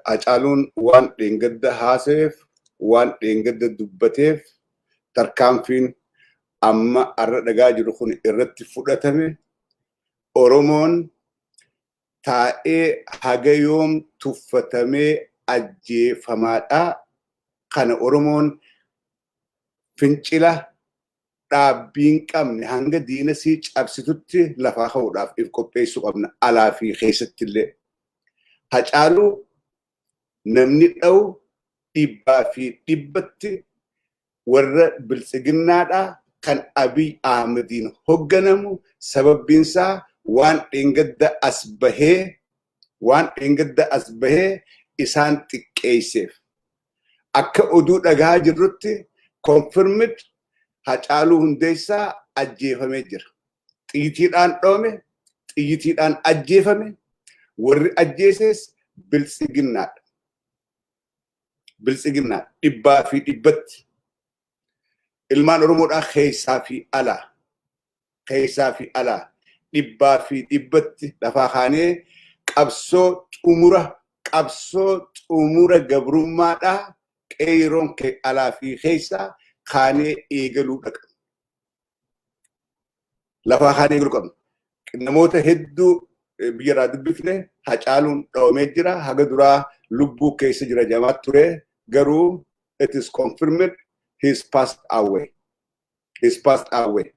Hacaaluun waan dheengadda haasayeef, waan dheengadda dubbateef tarkaanfiin amma har'a dhagaa jiru kun irratti fudhatame Oromoon taa'ee haga yoom tuffatamee ajjeefamaadhaa kana Oromoon fincila dhaabbii hin qabne hanga diina sii cabsitutti lafaa ka'uudhaaf if qopheessuu qabna alaa fi keessatti illee. Hacaaluu namni dha'u dhibbaa fi dhibbatti warra biltsiginnaadhaa kan Abiy Ahmediin hogganamu sababbiinsaa waan dheengadda as bahee waan dheengadda as bahee isaan xiqqeesseef. Akka oduu dhagahaa jirrutti confirmed Hacaaluu Hundeessaa ajjeefamee jira. Xiyyitiidhaan dhoome, xiyyitiidhaan ajjeefame, warri ajjeesees biltsiginnaadha. Biltsiginnaa dhibbaa fi dhibbatti ilmaan Oromoodhaa keessaa fi alaa keessaa fi alaa dhibbaa fi dhibbatti lafaa kaanee qabsoo xumura qabsoo xumura gabrummaadhaa qeeyroon kee alaa fi keessaa kaanee eegaluu dhaqabu. Lafaa kaanee eegaluu qabna. Namoota hedduu biyyarraa dubbifne hacaaluun dhawamee jira. Haga duraa lubbuu keessa jira jamaat ture garuu it is confirmed he is passed away. is passed away.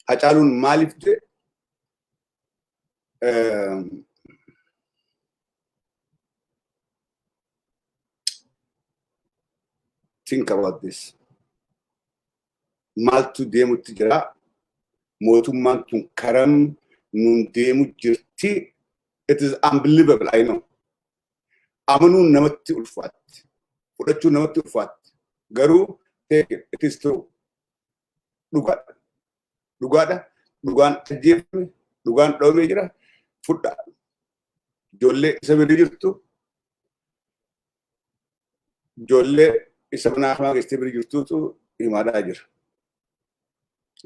Hacaaluun maaliif du'e? Think about this. Maaltu deemutti jira? Mootummaan tun karam nuun deemu jirti? It is unbelievable, I know. Amanuun namatti ulfaatti. Fudhachuun namatti ulfaatti. Garuu take it, it is true. Dhugaadha. Dhugaadha. Dhugaan ajjeefame, dhugaan dhoomee jira. Fudhaa. Ijoollee isa bira jirtu, ijoollee isa mana hamaa keessatti bira jirtuutu himaadhaa jira.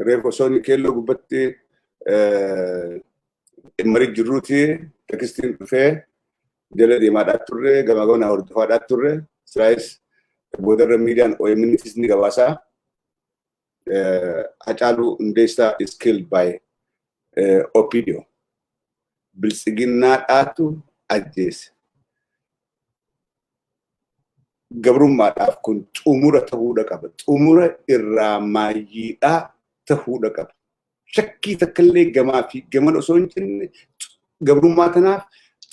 Reef osoo inni keelloo gubbatti marii jirruuti tekstiin dhufee jala deemaadhaa turre gamaa gamanaa hordofaadhaa turre siraayis boodarra miidiyaan OMNtis ni gabaasaa Hacaaluu Hundeessaa is killed by OPDO biltsiginnaadhaatu ajjeese. gabrummaadhaaf kun xumura ta'uudha qaba. Xumura irraa maayyiidhaa ta'uudha qaba. Shakkii takkallee gamaa fi gaman osoo hin jenne gabrummaa tanaaf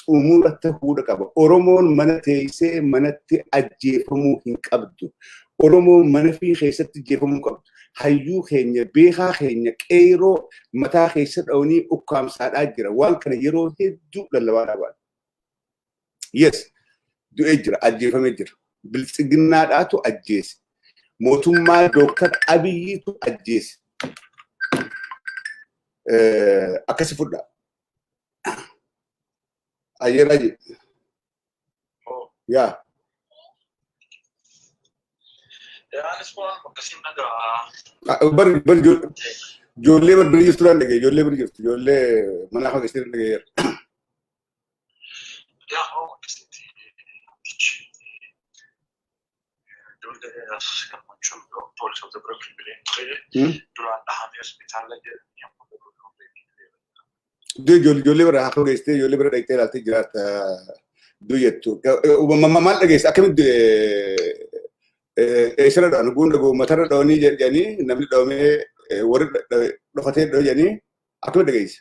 xumura ta'uudha qaba. Oromoon mana teessee manatti ajjeefamuu hin qabdu. Oromoon mana fi keessatti ajjeefamuu hin qabdu. Hayyuu keenya beekaa keenya qeeroo mataa keessa dha'anii ukkaamsaadhaa jira. Waan kana yeroo hedduu lallabaa dhaabaan. Yes, du'ee jira, ajjeefamee jira. Biltsiginnaadhaatu ajjeese. Mootummaa Dooktar Abiyyiitu ajjeese. Eh, Akkasi fudhaa. Ayyeeraa jedhe. Yaa. Yaanis waan akkasiin dhagaa. Bari bari jo- ijoollee bari bira jirtu dhaan dhagee ijoollee bira jirtu ijoollee manaa fageessee dhaan dhagee Ja, ja, det är jag man tror då på så det brukar bli tre då alla han är spitala det jag på det du jol jolli bara akka geessite jolli bara dhaqxee ilaaltee jiraatta du jettu maal dhageessa akkamitti eessarra dha'an guunda goommatarra dha'anii jedhanii namni dha'amee warri dhokatee dha'anii akkamitti dhageessa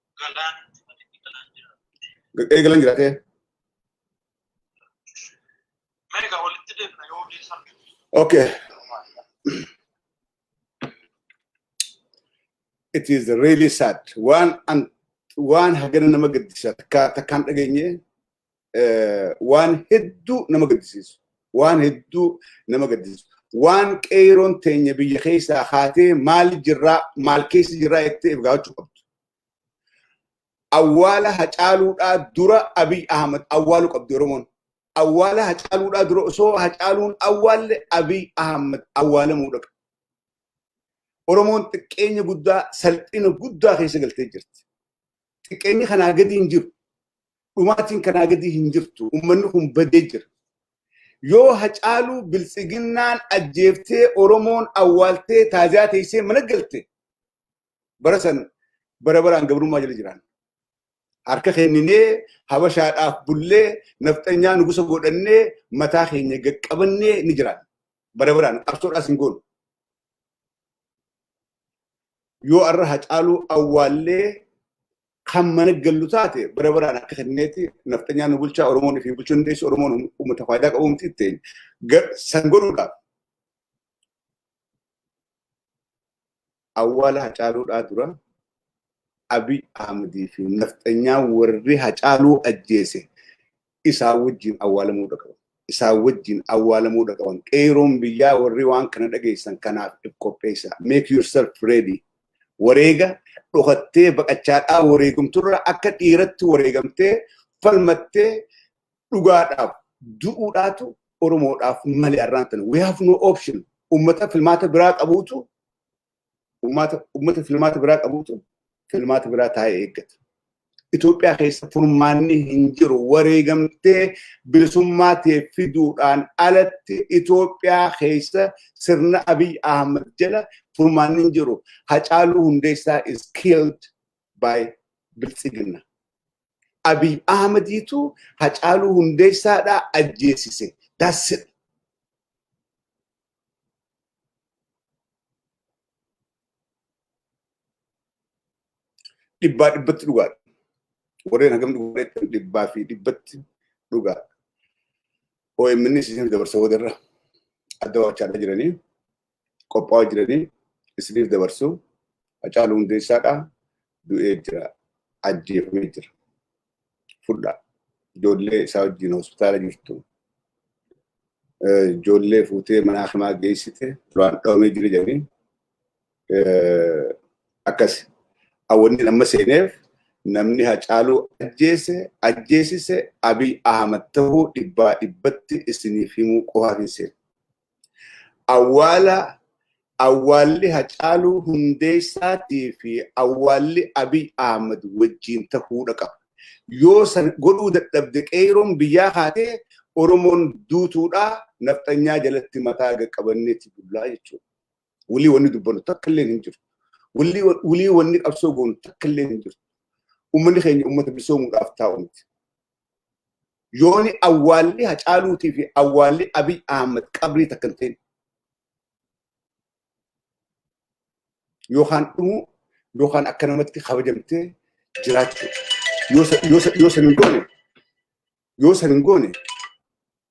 Eegalan jiraatee. Okay. It is really sad. Waan an waan hagana nama gaddisa takka takkaan dhageenye waan hedduu nama gaddisiisu. Waan hedduu nama gaddisiisu. Waan qeeroon teenya biyya keessaa haatee maal jirraa maal keessa jirraa jettee if gaafachuu qabdu. Awwaala hacaaluudhaa dura Abiy Ahmad awwaalu qabdi Oromoon. Awwaala hacaaluudhaa dura osoo hacaaluun awwaalle Abiy Ahmad awwaalamuu dhaqa. Oromoon xiqqeenya guddaa salphina guddaa keessa galtee jirti. Xiqqeenyi kanaa gadi hin jiru. dhumaatiin kanaa gadii hin jirtu ummanni kun badee jira yoo hacaaluu biltsiginnaan ajjeeftee oromoon awwaaltee taaziyaa teessee mana galte bara san bara baraan gabrummaa jala jiraan harka kenninee habashaadhaaf bullee nafxanyaa nugusa godhannee mataa keenya gaqqabannee ni jiraan bara baraan qabsoodhaas hin goonu yoo arra hacaaluu awwaallee kan mana gallu taate bara baraan akka kenneeti nafxanyaan nu bulchaa Oromoon fi bulchuu dandeessu Oromoon uummata faayidaa qabu miti ittiin san godhuudhaaf. Awwaala hacaaluudhaa dura Abiy Ahmedii fi nafxanyaan warri hacaaluu ajjeese isaa wajjin awwaalamuu dhaqaban. Isaa wajjin awwaalamuu dhaqaban. Qeeroon biyyaa warri waan kana dhageessan kanaaf if qopheessaa. Make yourself ready. Wareega dhokattee baqachaadhaa wareegamturra akka dhiiratti wareegamtee falmattee dhugaadhaaf du'uudhaatu Oromoodhaaf malee arraan tana. We have no option. Uummata filmaata biraa qabuutu Uummata uummata filmaata biraa qabutu filmaata biraa taa'ee eeggata. Itoophiyaa keessa furmaanni hin jiru wareegamtee bilisummaa ta'e fiduudhaan alatti Itoophiyaa keessa sirna Abiy Ahmed jala furmaanni hin jiru. Hacaaluu Hundeessaa is killed by Biltsiginna. Abiy Ahmediitu Hacaaluu Hundeessaadhaa ajjeesise. That's it. Dhibbaa dhibbatti dhugaadha. Warreen hagam dhugaadha dhibbaa fi dhibbatti dhugaadha. OMN isiniif dabarsa boodarra adda waachaadha jiranii qophaa'aa jiranii isiniif dabarsu Hacaaluu Hundeessaadha du'ee jira ajjeefamee jira. fudhaa. Ijoollee isaa wajjin hospitaala jirtu. Ijoollee fuutee mana hakimaa geessite duraan dhoomee jira jedhanii akkas. Awwanni amma seeneef namni hacaaluu ajjeese ajjeesise Abiy Ahmad ta'uu dhibbaa dhibbatti isiniif himuu qofaaf hin seenu. Awwaala Awwaalli Hacaaluu Hundeessaatii fi awwaalli Abiy Ahmad wajjiin tahuudha qaba. Yoo san godhuu dadhabde Qeeyroon biyyaa kaatee Oromoon duutuudhaa Nafxanyaa jalatti mataa gad qabanneeti bullaa jechuudha. Wly wanni dubbannu takka illeen hin jirtu. Wly wanni qabsoo goonu takka illeen hin jirtu. Ummanni keenya ummata bilisoomuudhaaf taa'u miti. Yooni awwaalli Hacaaluutii fi awwaalli Abiy Ahmed qabrii takka hin ta'in. Yookaan dhumuu yookaan akka namatti kabajamtee jiraachuu. Yoo san hin goone yoo san hin goone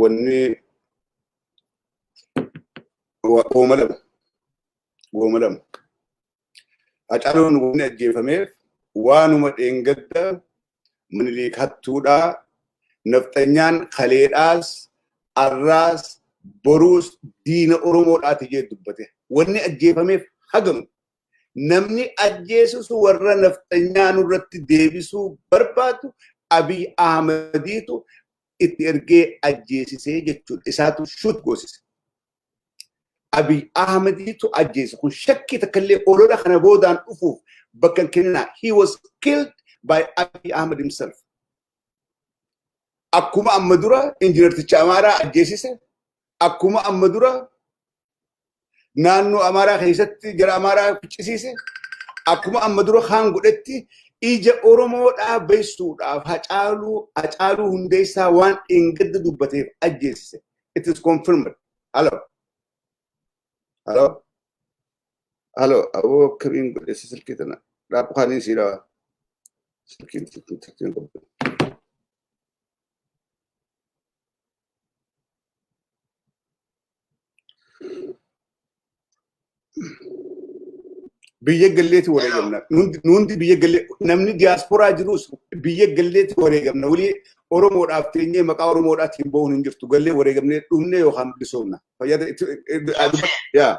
wanni wooma lama wooma lama Hacaaluun wanni ajjeefameef waanuma dheengadda Minilik hattuudhaa nafxanyaan kaleedhaas arraas boruus diina Oromoodhaati jee dubbate wanni ajjeefameef hagamu namni ajjeesus warra nafxanyaa nurratti deebisuu barbaadu Abiy Ahmadiitu itti ergee ajjeesisee jechuudha. Isaatu shuut goosise. Abiy Ahmadiitu ajjeese kun shakkii takkallee olola kana boodaan dhufuuf bakka hin kenninaa. He was killed by Abiy Ahmed himself. Akkuma amma dura injiinarticha Amaaraa ajjeesise, akkuma amma dura naannoo Amaaraa keessatti jara Amaaraa ficcisiise akkuma amma dura kaan godhetti ija Oromoo dhaabbeessuudhaaf hacaaluu hacaaluu hundeessaa waan dheengadda dubbateef ajjeesise. It is confirmed. Hello. Hello. Hello. Aboo akkamiin godhesse silkii tana dhaabbu kaaniin sii dhawa. Silkiin silkiin silkiin qabdu. biyya galleetti wareegamna. Nuti biyya gallee namni diyaasporaa jirus biyya galleetti wareegamna. Walii Oromoodhaaf teenyee maqaa Oromoodhaatiin ba'uun hin jirtu. Gallee wareegamnee dhumne yookaan bilisoomna. Fayyada yaa.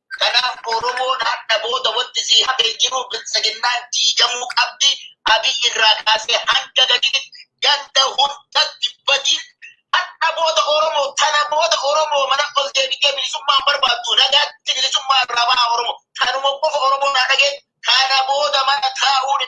Kanaaf Oromoon hadha booda wanti sii hafe hin jiru biltsiginnaan diigamuu qabdi Abiy irraa kaasee hanga gaditti ganda hundatti badiin hadha booda Oromoo tana booda Oromoo mana ol deebitee bilisummaa hin barbaaddu nagaatti bilisummaa irraa bahaa Oromoo tanuma qofa Oromoon haa dhageenyu kana booda mana taa'uun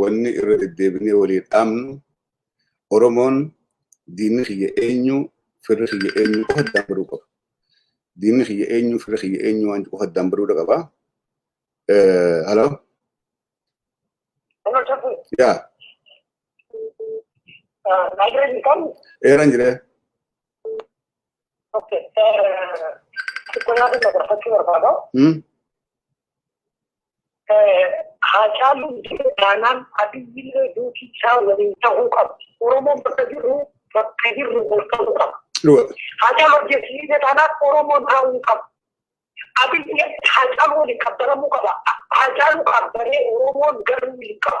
wanni irra deddeebinee walii dhaamnu Oromoon diinni kiyya eenyu firri kiyya eenyu qofa addaan baruu qaba. Diinni kiyya eenyu firri kiyya eenyu waan qofa addaan baruu qaba. Haloo? Yaa. Eeran jiree. Haacaaluun jiru taanaan Abiyyillee duuti isaa waliin ta'uu qaba. Oromoon bakka jirru bakka jirru ol ta'uu qaba. Haacaaluu ajjeesisee taanaan Oromoon haa'uu qaba. Abiyyi Haacaaluu waliin qabbaramuu qaba. Haacaaluu qabbaree Oromoon garuu waliin qaba.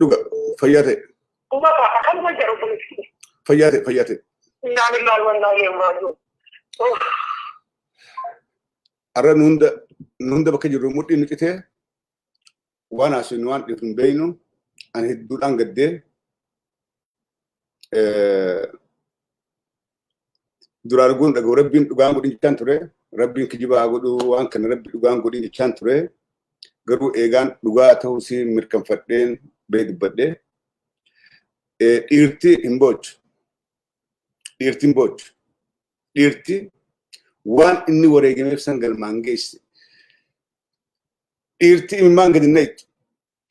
Dhuga fayyaa ta'e. Dhuga ka akkanuma jedhu kunis. Fayyaa ta'e fayyaa ta'e. Innaa lillahi wa innaa ilayhi raaji'uun. Har'a nu hunda nu hunda bakka jirru mudhii nu citee waan haasofnu waan dhiifnu hin beeknu ani hedduudhaan gaddee duraa arguun dhaga'u rabbiin dhugaan godhin jechaan ture rabbiin kijibaa haa godhu waan kana rabbi dhugaan godhin jechaan ture garuu eegaan dhugaa ta'uu si mirkanfadheen bee dubbadhe dhiirti hin boochu dhiirti hin boochu dhiirti waan inni wareegameef san galmaan geesse dhiirti imimmaan gadi nayxu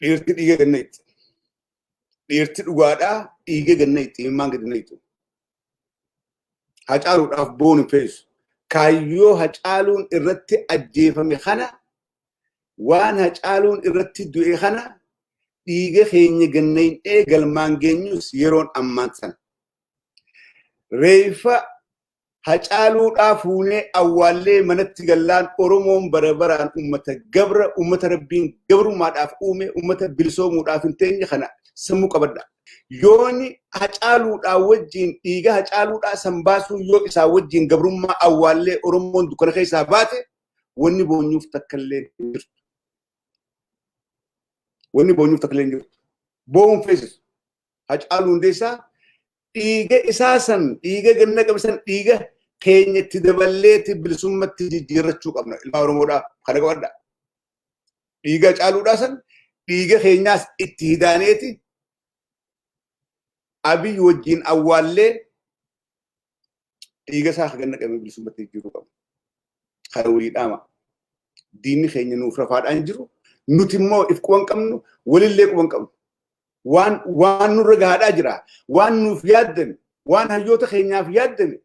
Dhiirti dhiiga ganna itti. Dhiirti dhugaadhaa dhiiga ganna itti himmaan gadi nayitu. Hacaaluudhaaf boonu feesu. Kaayyoo hacaaluun irratti ajjeefame kana waan hacaaluun irratti du'e kana dhiiga keenya ganna hin dhee galmaan geenyus yeroon ammaan sana. Reeffa Hacaaluudhaa fuunee awwaallee manatti gallaan Oromoon bara baraan uummata gabra, uummata rabbiin gabrummaadhaaf uume, uummata bilisoomuudhaaf hin teenye kana sammuu qabadha. Yooni hacaaluudhaa wajjin dhiiga hacaaluudhaa san baasuu yoo isaa wajjin gabrummaa awwaallee Oromoon dukkana keessaa baate wanni boonyuuf takkallee hin jirtu. Wanni boonyuuf takkallee hin jirtu. Boo'uun feesisu. Hacaaluu hundeessaa dhiiga isaa san dhiiga ganna qabe san dhiiga keenya itti daballeeti bilisummatti jijjiirrachuu qabna ilmaa oromoodhaa kana qabadha dhiiga caaluudhaa san dhiiga keenyaas itti hidaaneeti abiy wajjiin awwaallee dhiiga isaa akka ganna qabee bilisummaatti jijjiiruu qabna. Kana walii dhaama. Diinni keenya nuuf rafaadhaan jiru. Nuti immoo if quban qabnu, walillee quban qabnu. Waan waan nurra gahaadhaa jira. Waan nuuf yaaddame, waan hayyoota keenyaaf yaaddame.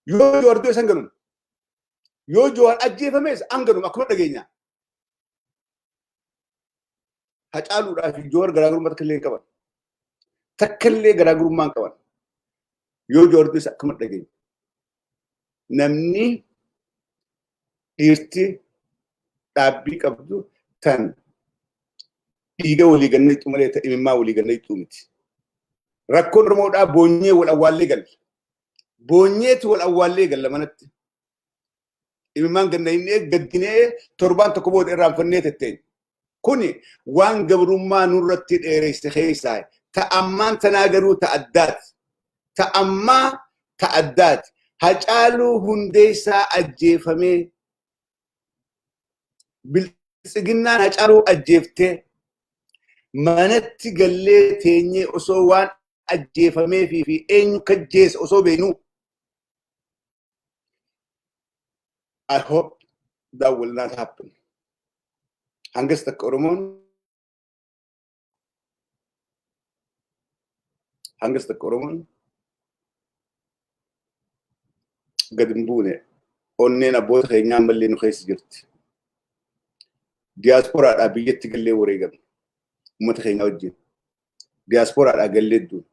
Yoo Jawaar du'e san ganuma. Yoo Jawaar ajjeefames an ganuma akkuma dhageenya. Hacaaluudhaa fi Joowar garaagarummaa takka illee hin qaban. Takka illee garaagarummaa hin qaban. Yoo Joowar du'es akkuma dhageenye. Namni dhiirti dhaabbii qabdu tan dhiiga walii ganna itti malee ta'e imimmaa walii ganna itti miti. Rakkoon Oromoodhaa boonyee wal awwaallee galla. Boonyeetu wal awwaallee galla manatti. Imimmaan ganna hin eeg gaddinee torbaan tokko booda irraanfannee tetteenya. Kuni waan gabrummaa nurratti dheereyse keessaa ta ammaan tanaa garuu ta addaati. Ta ammaa ta addaati. Hacaaluu hundeessaa ajjeefamee biltsiginnaan hacaaluu ajjeeftee manatti gallee teenyee osoo waan ajjeefameefii fi eenyu kajjeese osoo beeknuu I hope that will not happen. Hangas takka Oromoon hangas takka Oromoon gad hin buune onneen abboota keenyaa ammallee nu keessa jirti. Diyaasporaadhaa biyyatti gallee wareegamne uummata keenyaa wajjin. diyaaspooraadhaa gallee duun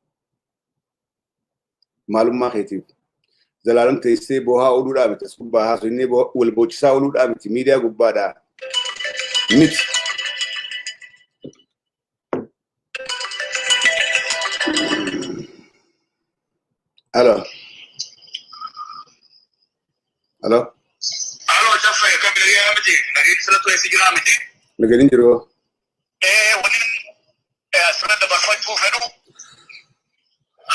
maalummaa keetiif zalaalam teessee boohaa ooluudhaa miti as gubbaa haasofnee wal boochisaa ooluudhaa miti miidiyaa gubbaadhaa miti. Alo. Alo. Alo, Jaffa, akkam nagaa miti? Nagaan sirrattu eessa jiraa miti? Nagaan hin jiru. Ee waliin ee, asirra dabarfachuu fedhu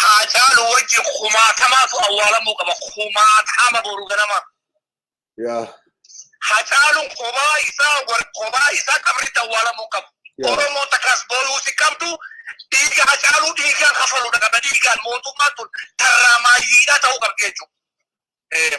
haacaalu wajji kumaatamaatu awwaalamuu qaba kumaatama boru ganama Yaa. haacaaluun kophaa isaa war- kophaa isaa qabritti awwaalamuu qaba Yaa. oromoo takkaas booyuu si qabdu dhiiga haacaaluu dhiigaan kafaluudha qaba dhiigaan mootummaan tun tarraamaayyiidhaa ta'uu qabdi jechuudha.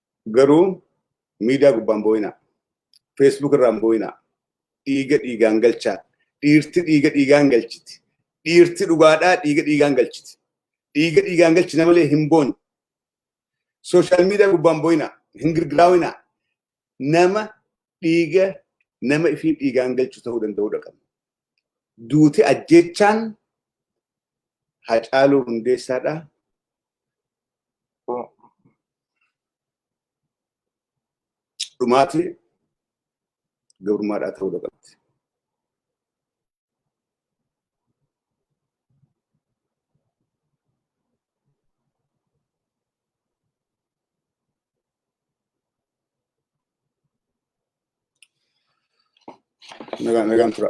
Garuu miidiyaa gubbaan boo'inaa. Feesbuuk irraan boo'inaa. Dhiiga dhiigaan galchaa. Dhiirti dhiiga dhiigaan galchiti. Dhiirti dhugaadhaa dhiiga dhiigaan galchiti. Dhiiga dhiigaan galchina malee hin boonyu. Sooshaal miidiyaa gubbaan boo'inaa. Hin girgiraawinaa. Nama dhiiga nama ifii dhiigaan galchu ta'uu danda'uudha qabna. Duuti ajjeechaan Hacaaluu Hundeessaadhaa. dhumaati gabrummaadhaa ta'uu qabdi. Nagaan nagaan tura.